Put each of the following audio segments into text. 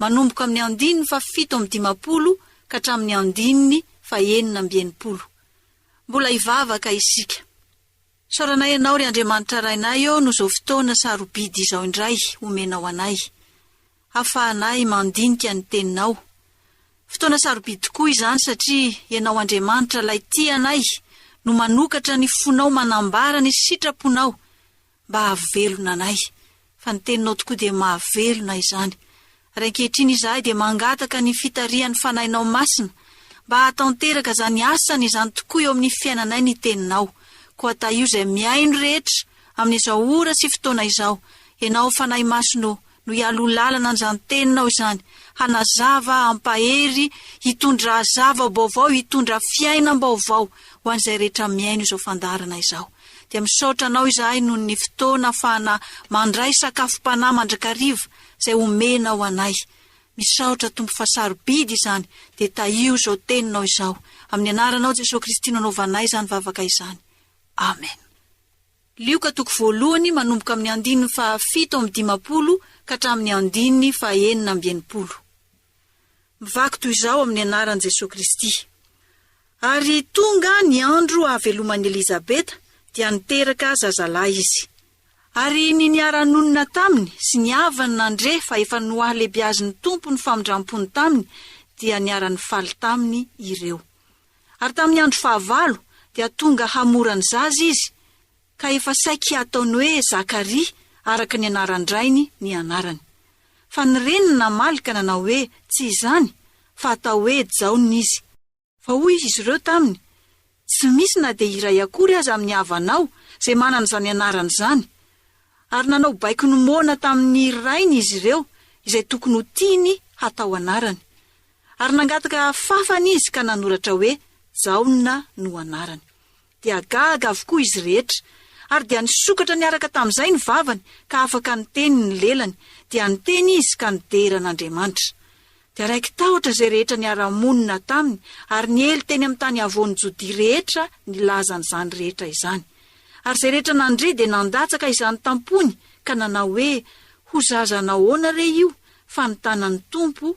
manomboka amin'ny andininy fahafito amby dimampolo ka hatramin'ny andininy fahenina amby enimpolo. Mbola hivavaka isika. Isaoranay Ianao, ry Andriamanitra Rainay ô, noho izao fotoana sarobidy izao indray omenao anay, hahafahanay mandinika ny Teninao. Fotoana sarobidy tokoa izany, satria Ianao Andriamanitra, Ilay tia anay, no manokatra ny fonao manambara ny sitraponao, mba hahavelona anay, fa ny Teninao tokoa dia mahavelona izany. Ary ankehitriny izahay dia mangataka ny fitarihan'ny Fanahinao Masina, mba hahatanteraka izany asany izany tokoa eo amin'ny fiainanay ny Teninao. Koa tahio izay mihaino rehetra amin'izao ora sy fotoana izao, Ianao Fanahy Masina ô, no hialoha lalana an'izany teninao izany, hanazava, hampahery, hitondra zava-baovao, hitondra fiainam-baovao ho an'izay rehetra mihaino izao fandaharana izao. Dia misaotra anao izahay noho ny fotoana afahana mandray sakafom-panahy mandrakariva izay omenao anay. Misaotra Tompo fa sarobidy izany, dia tahio izao teninao izao. Amin'ny anaranao Jesoa Kristy no anaovanay izany vavaka izany. Amen. Lioka toko voalohany manomboka amin'ny andininy fahafito amby dimampolo ka hatramin'ny andininy fahenina amby enimpolo. Mivaky toy izao amin'ny anaran'i Jesoa Kristy. Ary tonga ny andro hahaveloman'i Elizabeta dia niteraka zazalahy izy. Ary ny niara-nonina taminy sy ny havany nandre fa efa nohalebiazin'ny Tompo ny famindram-pony taminy dia niara-nifaly taminy ireo. Ary tamin'ny andro fahavalo dia tonga hamora ny zaza izy, ka efa saiky hataony hoe Zakaria, araka ny anaran-drainy, ny anarany. Fa ny reniny namaly ka nanao hoe, Tsy izany, fa atao hoe Jaona izy. Fa hoy izy ireo taminy, Tsy misy na dia iray akory aza amin'ny havanao izay manana izany anarana izany. Ary nanao baiko ny moana tamin'ny rainy izy ireo izay tokony ho tiany hatao anarany. Ary nangataka hafafana izy ka nanoratra hoe, Jaona no anarany. Dia gaga avokoa izy rehetra. Ary dia nisokatra niaraka tamin'izay ny vavany, ka afaka niteny ny lelany, dia niteny izy ka nidera an'Andriamanitra. Dia raiki-tahotra izay rehetra niara-monina taminy, ary niely teny amin'ny tany havoan'i Jodia rehetra nilaza an'izany rehetra izany. Ary izay rehetra nandre dia nandatsaka izany tam-pony, ka nanao hoe, Ho zaza nahoana re io, fa nitana ny Tompo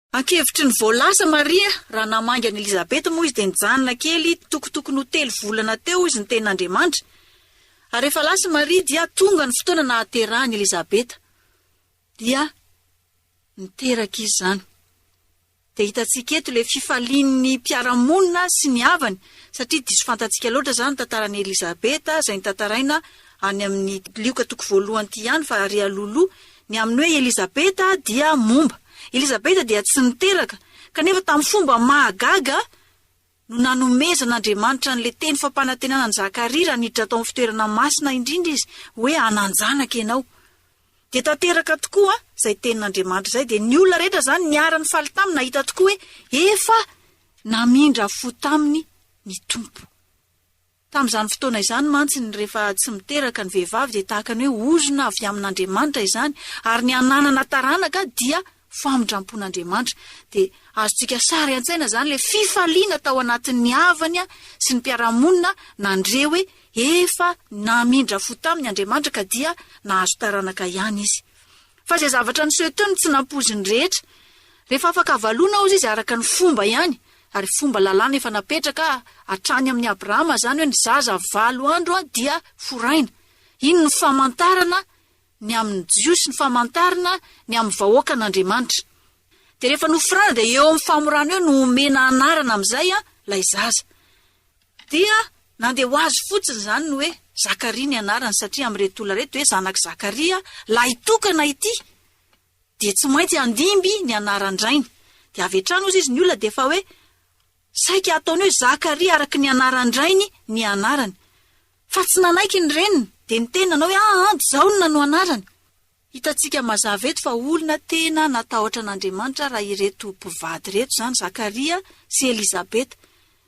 Ankevitry ny voalaza Maria, raha namangy an'i Elizabeth moa izy dia nijanona kely tokotokony ho telo volana teo izy niteny Andriamanitra. Ary rehefa lasa i Maria dia tonga ny fotoana nahaterahan'i Elizabeth. Dia niteraka izy izany. Dia hitantsika eto ilay fifalian'ny mpiara-monina sy ny havany, satria diso fantatsika loatra izany ny tantaran'i Elizabeth izay notantaraina any amin'ny Lioka toko voalohany ity ihany fa ary alohaloha Ny amin'ny hoe Elizabeta dia momba. Elizabeta dia tsy niteraka, kanefa tamin'ny fomba mahagaga no nanomezan'Andriamanitra an'ilay teny fampanantenana an'i Zakaria raha niditra tao amin'ny fitoerana masina indrindra izy hoe hanan-janaka ianao. Dia tanteraka tokoa izay tenin'Andriamanitra izay, dia ny olona rehetra izany niara-nifaly taminy nahita tokoa hoe efa namindra fo taminy ny Tompo. Tamin'izany fotoana izany mantsy ny rehefa tsy miteraka ny vehivavy dia tahaka ny hoe ozona avy amin'Andriamanitra izany ary ny hananana taranaka dia famindrampon'Andriamanitra. Dia azontsika sary an-tsaina izany ilay fifaliana tao anatin'ny havany sy ny mpiara-monina nandre hoe efa namindra fo taminy Andriamanitra ka dia nahazo taranaka ihany izy. Fa izay zavatra niseho teo no tsy nampoizin'ny rehetra. Rehefa afaka avalonao izy araka ny fomba ihany, Ary fomba lalàna efa napetraka hatrany amin'i Abrahama izany hoe ny zaza valo andro dia foraina. Iny no famantarana ny amin'ny Jiosy, ny famantarana ny amin'ny vahoakan'Andriamanitra. Dia rehefa noforaina dia eo amin'ny famorana eo no omena anarana amin'izay ilay zaza. Dia nandeha ho azy fotsiny izany ny hoe Zakaria ny anarany satria amin'ireto olona ireto hoe zanak'i Zakaria lahitokana ity. dia tsy maintsy handimby ny anaran-drainy. Dia avy hatrany hozy izy ny olona dia efa hoe saika ataony hoe Zakaria araka ny anaran-drainy ny anarany. Fa tsy nanaiky ny reniny, dia niteny nanao hoe ah ah, Jaona no anarany. Hitantsika mazava eto fa olona tena natahotra an'Andriamanitra raha ireto mpivady ireto, izany Zakaria sy Elizabeta.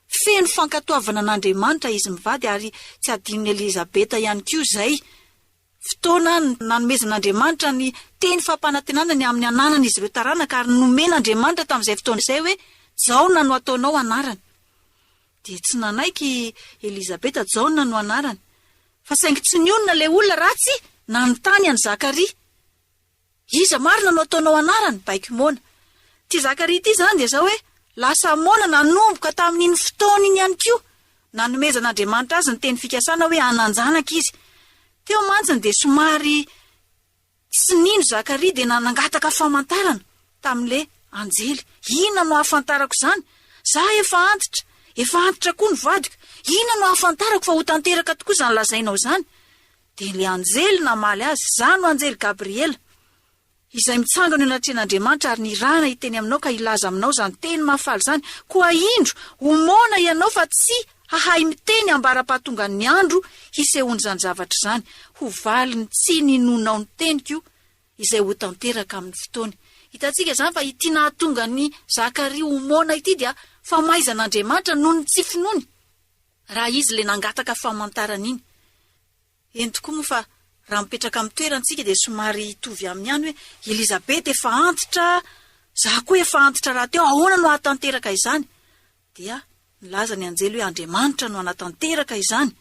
Feno fankatoavana an'Andriamanitra izy mivady ary tsy adinon'i Elizabeta ihany koa izay. Fotoana nanomezan'Andriamanitra ny teny fampanantenana ny amin'ny ananan'izy ireo taranaka, ary nomen'Andriamanitra tamin'izay fotoana izay hoe, Jaona no ataonao anarany. Dia tsy nanaiky i Elizabeta, Jaona no anarany. Fa saingy tsy nionona ilay olona ratsy nanontany an'i Zakaria. Iza marina no ataonao anarany? Baiko moana. Ity Zakaria ity izany dia izao hoe, lasa moana nanomboka tamin'iny fotoana iny ihany koa, nanomezan'Andriamanitra azy ny teny fikasana hoe hanan-janaka izy. Teo mantsiny dia somary tsy nino Zakaria dia nangataka famantarana tamin'ilay anjely. Inona no hahafantarako izany? Za efa antitra, efa antitra koa ny vadiko. Inona no hahafantarako fa ho tanteraka tokoa izany lazainao izany? Dia ilay anjely namaly azy, Izaho no anjely Gabriela, izay mitsangana eo anatrehan'Andriamanitra ary nirahana hiteny aminao ka hilaza aminao izany teny mahafaly izany. Koa indro, omaona ianao fa tsy hahay miteny ambara-pahatongan'ny andro hisehoan'izany zavatra izany. Ho valiny tsy ninoanao ny teniko izay ho tanteraka amin'ny fotoany. Hitantsika izany fa ity nahatonga an'i Zakaria omaona ity dia famaizan'Andriamanitra noho ny tsy finoany. Raha izy ilay nangataka famantarana iny. Eny tokoa moa fa raha mipetraka amin'ny toerantsika dia somary hitovy amin'ny any hoe Elizabeth efa antitra, za koa efa antitra rahateo, ahoana no ahatanteraka izany? Dia nilaza ny anjely hoe Andriamanitra no hanatanteraka izany,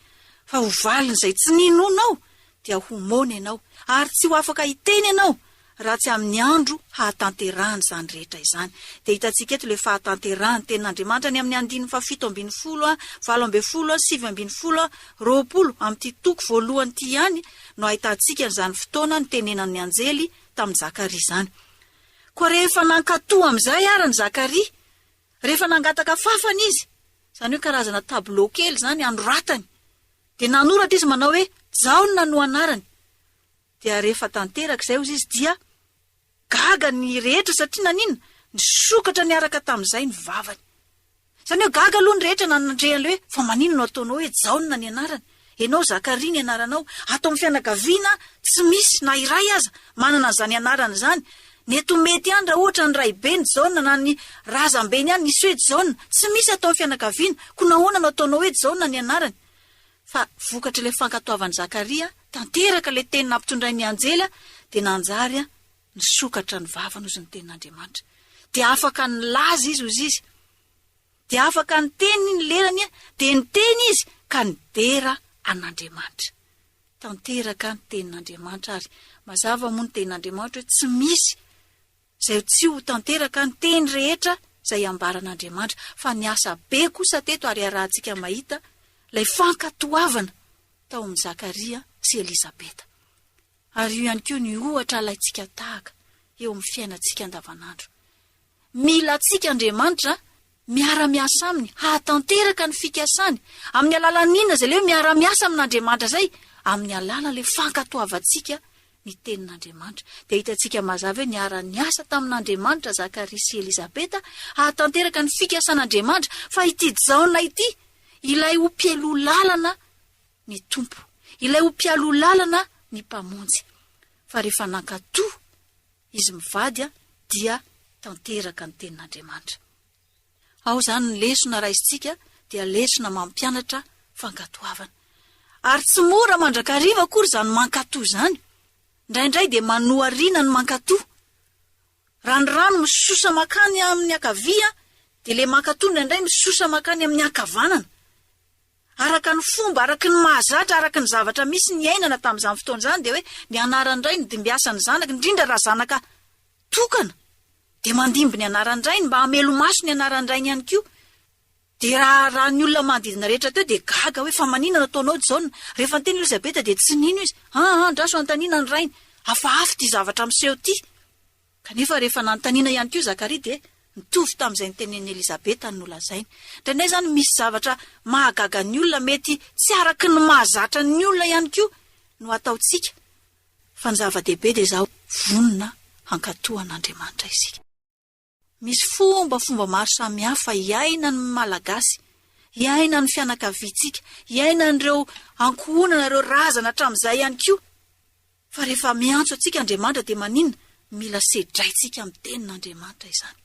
fa ho valin'izay tsy ninonao dia ho moana ianao, ary tsy ho afaka hiteny ianao raha tsy amin'ny andro hahatanterahany izany rehetra izany. Dia hitantsika eto ilay fahatanterahan'ny tenin'Andriamanitra any amin'ny andininy fahafito ambin'ny folo, valo ambin'ny folo, sivy ambin'ny folo, roapolo, amin'ity toko voalohany ity ihany no ahitantsika an'izany fotoana nitenenan'ny anjely tamin'i Zakaria izany. Koa rehefa nankatò amin'izay àry an'i Zakaria, rehefa nangataka fàfana izy, izany hoe karazana tableau kely izany anoratany Dia nanoratra izy manao hoe, Jaona no anarany. Dia rehefa tanteraka izay hozy izy dia gaga ny rehetra satria naninona? Nisokatra niaraka tamin'izay ny vavany. Izany hoe gaga aloha ny rehetra nanandre an'ilay hoe, fa maninona no ataonao hoe Jaona ny anarany? Ianao Zakaria ny anaranao. Ato amin'ny fianakaviana tsy misy na iray aza manana an'izany anarana izany. Mety ho mety ihany raha ohatra ny raibeny Jaona na ny razambeny ihany nisy hoe Jaona. Tsy misy atao fianakaviana, koa nahoana no ataonao hoe Jaona ny anarany? Fa vokatry ilay fankatoavan'i Zakaria tanteraka ilay teny nampitondrain'ny anjely dia nanjary nisokatra ny vavany hozy ny tenin'Andriamanitra. Dia afaka nilaza izy hozy izy. Dia afaka niteny ny lerany dia niteny izy ka nidera an'Andriamanitra. tanteraka ny tenin'Andriamanitra ary mazava moa ny tenin'Andriamanitra hoe tsy misy izay tsy ho tanteraka ny teny rehetra izay ambaran'Andriamanitra fa niasa be kosa teto ary iarahantsika mahita ilay fankatoavana tao amin'i Zakaria sy Elizabeta ary io ihany koa ny ohatra alaintsika tahaka eo amin'ny fiainantsika andavanandro mila antsika Andriamanitra miara-miasa aminy hahatanteraka ny fikasany, amin'ny alalan'ny inona izay leo miara-miasa amin'Andriamanitra izay? Amin'ny alalan'ilay fankatoavantsika ny tenin'Andriamanitra. Dia hitantsika mazava hoe niara-niasa tamin'Andriamanitra Zakaria sy Elizabeta hahatanteraka ny fikasan'Andriamanitra fa ity Jaona ity ilay ho mpialoha lalana ny Tompo, ilay ho mpialoha lalana ny Mpamonjy. Fa rehefa nankatò izy mivady dia tanteraka ny tenin'Andriamanitra. Ao izany ny lesona raisintsika dia lesona mampianatra fankatoavana. Ary tsy mora mandrakariva akory izany mankatoa izany. Indraindray dia manohariana ny mankatoa. Raha ny rano misosa makany amin'ny ankavia dia ilay mankatoa indraindray misosa makany amin'ny ankavanana. Araka ny fomba, araka ny mahazatra, araka ny zavatra misy niainana tamin'izany fotoana izany dia hoe ny anaran'ny ray no dimbiasan'ny zanaka, indrindra raha zanaka tokana dia mandimby ny anaran'ny rainy mba hamelomaso ny anaran'ny rainy ihany koa. Dia raha raha ny olona manodidina rehetra teo dia gaga hoe fa maninona ataonao Jaona? Rehefa niteny Elizabeta dia tsy nino izy. An, an, andraso hanontaniana ny rainy. Hafahafa ity zavatra miseho ity. Kanefa rehefa nanontaniana ihany koa i Zakaria dia nitovy tamin'izay notenenin'i Elizabeta no nolazainy. Indraindray izany misy zavatra mahagaga ny olona mety tsy araka ny mahazatra ny olona ihany koa no ataontsika, fa ny zava-dehibe dia izao, vonona hankatò an'Andriamanitra isika. Misy fombafomba maro samihafa iainan'ny Malagasy, iainan'ny fianakaviantsika, iainan'ireo ankohonana, ireo razana hatramin'izay ihany koa, Fa rehefa miantso antsika Andriamanitra dia maninona mila sedraintsika amin'ny tenin'Andriamanitra izany?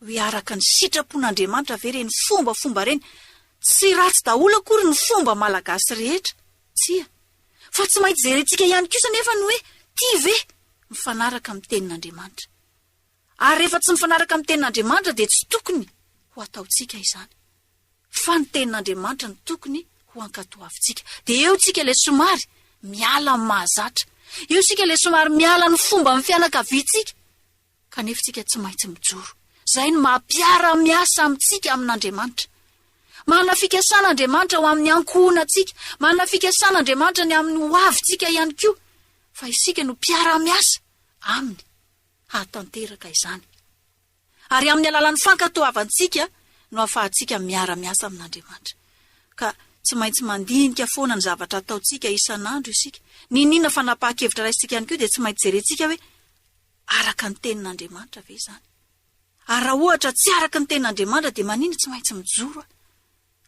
Hoe araka ny sitrapon'Andriamanitra ve ireny fombafomba ireny? Tsy ratsy daholo akory ny fomba malagasy rehetra, tsia. Fa tsy maintsy jerentsika ihany kosa anefa ny hoe tia ve mifanaraka amin'ny tenin'Andriamanitra. Ary rehefa tsy mifanaraka amin'ny tenin'Andriamanitra dia tsy tokony ho ataontsika izany. Fa ny tenin'Andriamanitra no tokony ho ankatoavintsika. Dia eo isika ilay somary miala amin'ny mahazatra. Eo isika ilay somary miala ny fomban'ny fianakaviantsika. Kanefa isika tsy maintsy mijoro. Izay no maha-mpiara-miasa amintsika amin'Andriamanitra. Manana fikasana Andriamanitra ho amin'ny ankohonantsika. Manana fikasana Andriamanitra ny amin'ny hoavintsika ihany koa. Fa isika no mpiara-miasa Aminy. hahatanteraka izany. Ary amin'ny alalan'ny fankatoavantsika no ahafahantsika miara-miasa amin'Andriamanitra. Ka tsy maintsy mandinika foana ny zavatra ataontsika isan'andro isika. N'inon'inona fanapahan-kevitra raisintsika ihany koa dia tsy maintsy jerentsika hoe, araka ny tenin'Andriamanitra ve izany? Ary raha ohatra tsy araka ny tenin'Andriamanitra dia maninona tsy maintsy mijoro aho?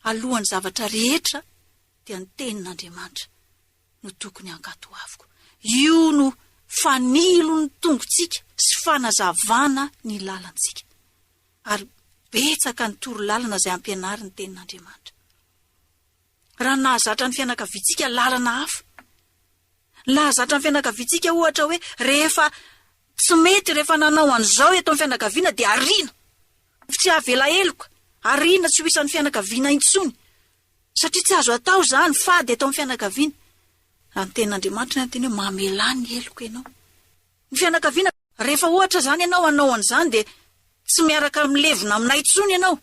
Alohan'ny zavatra rehetra dia ny tenin'Andriamanitra no tokony hankatoaviko. Io no fanilo ny tongotsika sy fanazavana ny lalantsika. Ary betsaka ny torolalana izay ampianary ny Tenin'Andriamanitra. Raha nahazatra ny fianakaviantsika lalana hafa, nahazatra ny fianakaviantsika ohatra hoe rehefa tsy mety, rehefa nanao an'izao eto amin'ny fianakaviana dia ariana, tsy avela heloka, ariana tsy ho isan'ny fianakaviana intsony, Satria tsy azo atao izany, fady eto amin'ny fianakaviana. Raha ny tenin'Andriamanitra ny anteny hoe mamelà ny heloka ianao. Ny fianakaviana, rehefa ohatra izany ianao hanao an'izany dia tsy miaraka milevina aminay intsony ianao,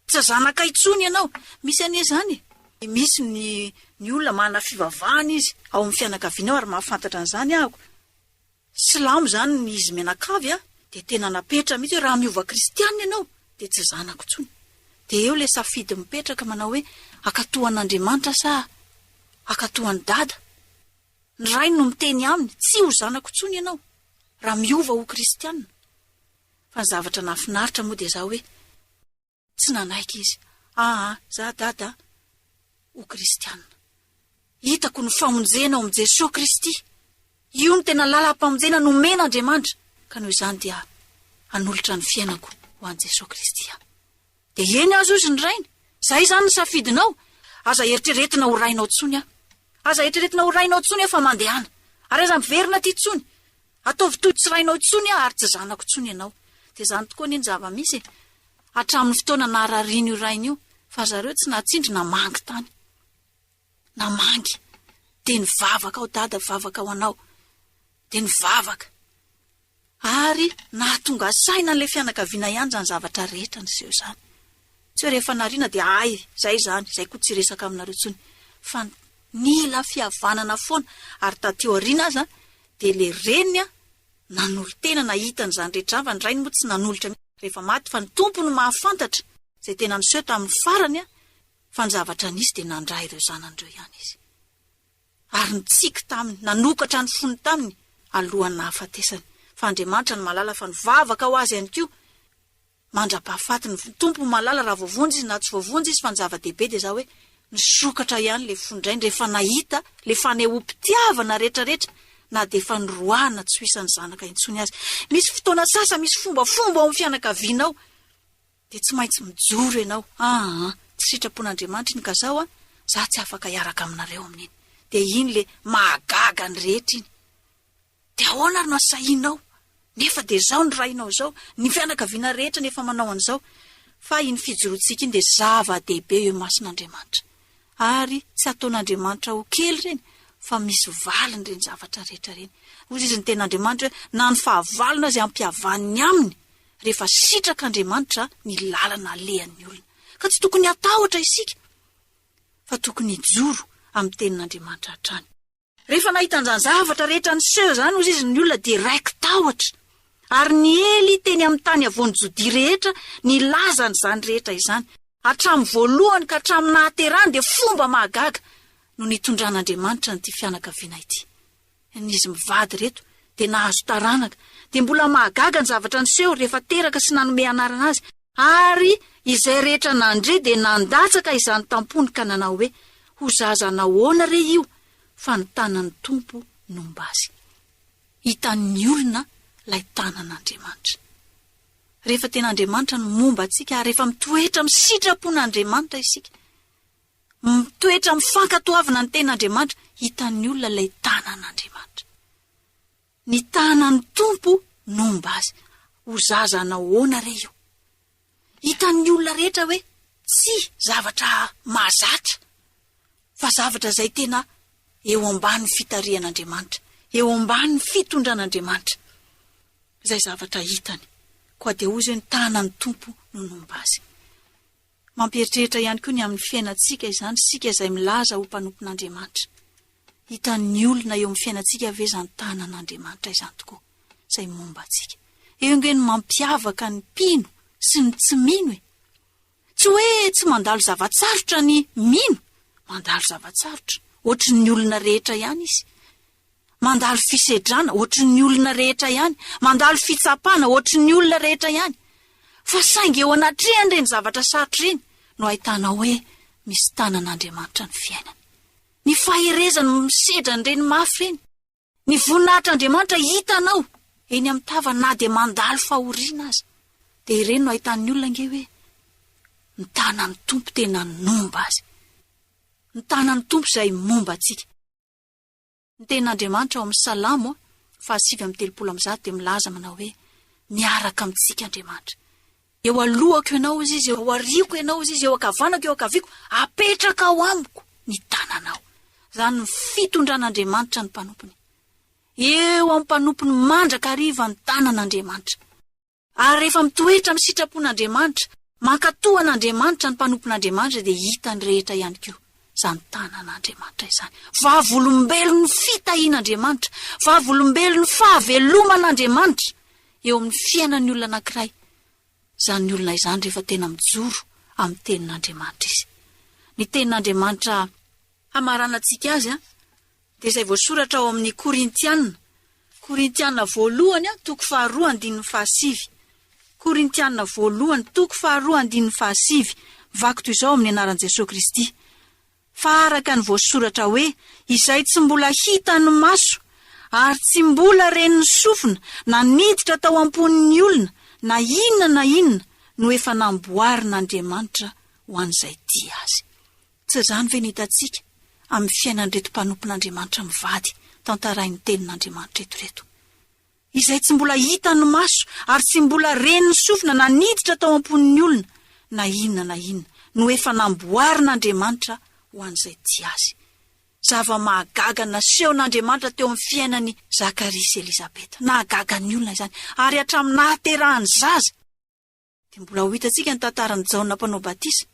tsy zanakay intsony ianao. Misy anie izany e! Misy ny ny olona manana fivavahana izy ao amin'ny fianakaviana ao ary mahafantatra an'izany aho. Silamo izany ny izy mianakavy a, dia tena napetra mihitsy hoe raha miova kristianina ianao dia tsy zanako intsony. Dia eo ilay safidy mipetraka manao hoe hankatò an'Andriamanitra sa hankatò an'i Dada. Ny rainy no miteny aminy, tsy ho zanako intsony ianao raha miova ho kristianina. Fa ny zavatra nahafinaritra moa dia zao hoe. Tsy nanaiky izy. Aa, za Dada a! ho kristiana. Hitako ny famonjena ao amin'i Jesoa Kristy. Io no tena lalam-pamonjena nomen'Andriamanitra. Ka noho izany dia hanolotra ny fiainako ho an'i Jesoa Kristy aho. Dia eny aza hozy ny rainy, izay izany ny safidinao, aza eritreretina ho rainao intsony aho. Aza eritreretina ho rainao intsony aho fa mandehana. Ary aza miverina aty intsony. Ataovy toy tsy rainao intsony aho ary tsy zanako intsony ianao. Dia izany tokoa anie ny zava-misy e! Hatramin'ny fotoana nahararian'io rainy io fa zareo tsy nahatsindry namangy tany. Namangy. Dia nivavaka aho, Dada mivavaka ho anao. Dia nivavaka. Ary nahatonga saina an'ilay fianakaviana ihany izany zavatra rehetra niseho izany. Tsy hoe rehefa nariana dia hay, izay izany, izay koa tsy resaka aminareo intsony. Fa nila fihavanana foana, ary taty aoriana aza dia ilay reniny nanolo-tena nahita an'izany rehetra izany fa ny rainy moa tsy nanolotra mihitsy rehefa maty fa ny Tompo no mahafantatra izay tena niseho tamin'ny farany fa ny zavatra nisy dia nandrà ireo zanany ireo ihany izy. Ary nitsiky taminy, nanokatra ny fony taminy alohan'ny nahafatesany. Fa Andriamanitra no mahalala fa nivavaka ho azy ihany koa. Mandrapahafaty ny Tompo no mahalala raha voavonjy izy na tsy voavonjy izy fa ny zava-dehibe dia za hoe nisokatra ihany ilay fo indraindra rehefa nahita ilay fanehoam-pitiavana rehetrarehetra na dia efa niroahana tsy ho isan'ny zanaka intsony aza. Misy fotoana sasany misy fombafomba ao amin'ny fianakavianao dia tsy maintsy mijoro ianao, aa, tsy sitrapon'Andriamanitra iny ka zaho an, za tsy afaka hiaraka aminareo amin'iny. Dia iny ilay mahagaga ny rehetra iny. Dia ahoana ary no asahinao? Nefa dia izao ny rainao izao, ny fianakaviana rehetra no efa manao an'izao. Fa iny fijoroantsika iny dia zava-dehibe eo imason'Andriamanitra. Ary tsy ataon'Andriamanitra ho kely ireny, fa misy valiny ireny zavatra rehetra ireny. Hoy izy ny Tenin'Andriamanitra hoe, Na ny fahavalony aza ampihavaniny aminy, rehefa sitrak'Andriamanitra ny lalana alehan'ny olona. Ka tsy tokony hatahotra isika, fa tokony hijoro amin'ny Tenin'Andriamanitra hatrany. Rehefa nahita an'izany zavatra rehetra niseho izany hozy izy ny olona dia raiki-tahotra, ary niely teny amin'ny tany havoan'i Jodia rehetra nilaza an'izany rehetra izany. Hatramin'ny voalohany ka hatramin'ny nahaterahany dia fomba mahagaga no nitondran'Andriamanitra an'ity fianakaviana ity. Izy mivady ireto dia nahazo taranaka, dia mbola mahagaga ny zavatra niseho rehefa teraka sy nanome anarana azy, Ary izay rehetra nandre dia nandatsaka izany tampony ka nanao hoe, Ho zaza nahoana re io, fa ny tanan'ny Tompo nomba azy. Hitan'ny olona ilay tanan'Andriamanitra. Rehefa tena Andriamanitra no momba antsika ary rehefa mitoetra amin'ny sitrapon'Andriamanitra isika, mitoetra amin'ny fankatoavana ny ten'Andriamanitra, hitan'ny olona ilay tanan'Andriamanitra. Ny tanan'ny Tompo no homba azy. Ho zaza hanao ahoana re io? Hitan'ny olona rehetra hoe tsy zavatra mahazatra, fa zavatra izay tena eo ambany fitarihan'Andriamanitra, eo ambany fitondran'Andriamanitra izay zavatra hitany. Koa dia hoy izao hoe ny tanan'ny Tompo no nomba azy. Mampieritreritra ihany koa ny amin'ny fiainantsika izany isika izay milaza ho mpanompon'Andriamanitra. Hitan'ny olona eo amin'ny fiainantsika ve izany tanan'Andriamanitra izany tokoa izay momba antsika? Eo ange ny mampiavaka ny mpino sy ny tsy mino e! Tsy hoe tsy mandalo zava-tsarotra ny mino, mandalo zava-tsarotra, hoatry ny olona rehetra ihany izy. Mandalo fisedrana hoatry ny olona rehetra ihany, mandalo fitsapana hoatry ny olona rehetra ihany. Fa saingy eo anatrehan'ireny zavatra sarotra ireny no ahitana hoe misy tanan'Andriamanitra ny fiainana. Ny faherezany no misedra an'ireny mafy ireny. Ny voninahitr'Andriamanitra hitanao eny amin'ny tava na dia mandalo fahoriana aza. Dia ireny no ahitan'ny olona ange hoe ny tanan'ny Tompo tena nomba azy. Ny tanan'ny Tompo izay momba antsika. Ny tenin'Andriamanitra ao amin'ny Salamo fahasivy amby telopolo amby zato dia milaza manao hoe, Miaraka amintsika Andriamanitra. Eo alohako Ianao, hoy Izy, eo aoriako Ianao, hoy Izy, eo ankavanako, eo ankaviako, apetraka ao amiko ny tananao. Izany ny fitondran'Andriamanitra ny mpanompony. Eo amin'ny mpanompony mandrakariva ny tanan'Andriamanitra. Ary rehefa mitoetra amin'ny sitrapon'Andriamanitra, mankatò an'Andriamanitra ny mpanompon'Andriamanitra dia hitan'ny rehetra ihany koa izany tanan'Andriamanitra izany. Vavolombelon'ny fitahian'Andriamanitra, vavolombelon'ny fahaveloman'Andriamanitra eo amin'ny fiainan'ny olona anankiray izany olona izany rehefa tena mijoro amin'ny tenin'Andriamanitra izy. Ny tenin'Andriamanitra hamaranantsika azy dia izay voasoratra ao amin'ny Korintiana, Korintiana Voalohany toko faharoa andininy fahasivy, Korintiana Voalohany toko faharoa andininy fahasivy, Vaky toy izao amin'ny anaran'i Jesoa Kristy, fa araka ny voasoratra hoe, Izay tsy mbola hitan'ny maso, ary tsy mbola ren'ny sofina, na niditra tao am-pon'ny olona, na inona na inona, no efa namboarin'Andriamanitra ho an'izay tia Azy. Tsy izany ve no hitantsika amin'ny fiainan'ireto mpanompon'Andriamanitra mivady tantarain'ny Tenin'Andriamanitra eto ireto, izay tsy mbola hitan'ny maso ary tsy mbola ren'ny sofina na niditra tao am-pon'ny olona na inona na inona no efa namboarin'Andriamanitra ho an'izay tia Azy. Zava-mahagaga nasehon'Andriamanitra teo amin'ny fiainan'i Zakaria sy Elizabeta. Nahagaga ny olona izany, ary hatramin'ny nahaterahany zaza. Dia mbola ho hitantsika ny tantaran'i Jaona mpanao batisa,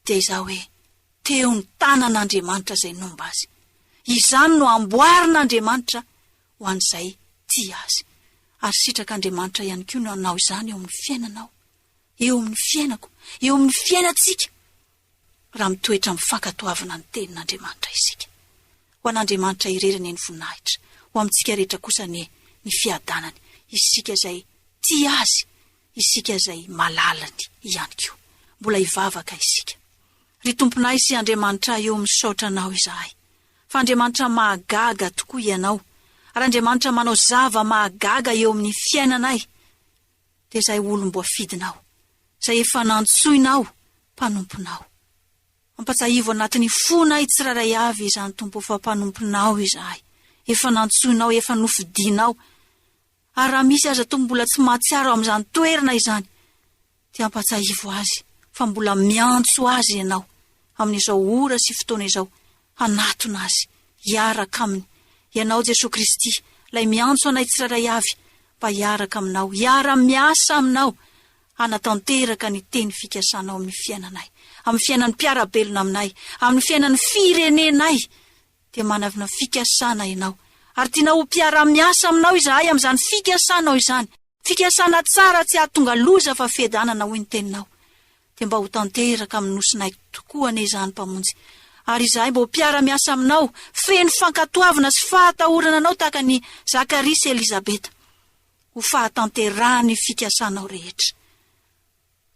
dia izao hoe, Teo ny tanan'Andriamanitra izay nomba azy. Izany no amboarin'Andriamanitra ho an'izay tia azy. Ary sitrak'Andriamanitra ihany koa ny hanao izany eo amin'ny fiainanao, eo amin'ny fiainako, eo amin'ny fiainantsika, raha mitoetra amin'ny fankatoavana ny tenin'Andriamanitra isika. Ho an'Andriamanitra irery anie ny voninahitra, ho amintsika rehetra kosa anie ny fiadanany, isika izay tia azy, Isika izay malalany ihany koa mbola hivavaka isika. Ry Tomponay sy Andriamanitray ô misaotra Anao izahay fa Andriamanitra mahagaga tokoa Ianao ary Andriamanitra manao zava mahagaga eo amin'ny fiainanay dia izay olom-boafidinao izay efa nantsoinao mpanomponao. Ampatsahivo anatin'ny fonay tsirairay avy izany Tompo fa mpanomponao izahay efa nantsoinao efa nofidinao Ary raha misy aza toa mbola tsy mahatsiaro amin'izany toerana izany dia ampahatsiahivo azy fa mbola miantso azy ianao amin'izao ora sy fotoana izao hanatona azy hiaraka aminy ianao Jesoa Kristy ilay miantso anay tsirairay avy mba hiaraka aminao hiara miasa aminao hanatanteraka ny teny fikasanao amin'ny fiainanay amin'ny fiainan'ny mpiara-belona aminay amin'ny fiainan'ny firenenay dia manavona fikasana ianao, ary tianao ho mpiara-miasa aminao izahay amin'izany fikasanao izany, fikasana tsara tsy hahatonga loza fa fiadanana hoy ny teninao. Dia mba ho tanteraka amin'ny nosinay tokoa anie izany, Mpamonjy, ary izahay mba ho mpiara-miasa aminao, feno fankatoavina sy fahatahorana anao tahaka an'i Zakaria sy Elizabeta, ho fahatanterahan'ny fikasanao rehetra.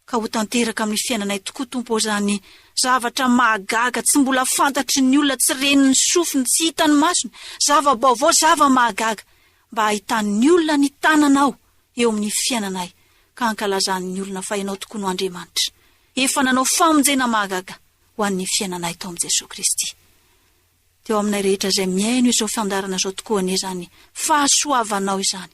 ka ho tanteraka amin'ny fiainanay tokoa Tompo ô zany zavatra mahagaga tsy mbola fantatry ny olona tsy ren'ny sofiny tsy hitan'ny masony zava-baovao zava-mahagaga mba hahitan'ny olona ny tananao eo amin'ny fiainanay ka hankalazan'ny olona fa ianao tokoa no Andriamanitra efa nanao famonjena mahagaga ho an'ny fiainanay tao amin'i Jesoa Kristy teo aminay rehetra izay mihaino izao fandarana izao tokoa anie izany fahasoavanao izany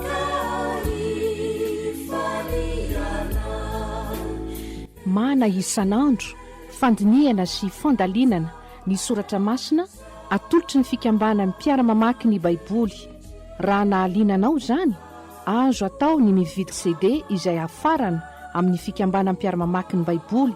Mana isan'andro fandinihana sy fandalinana ny soratra masina atolotry ny fikambanan'ny mpiara-mamaky ny Baiboly. Raha nahaliana anao izany, azo atao ny mividy CD izay hafarana amin'ny fikambanam-piara-mamaky ny Baiboly.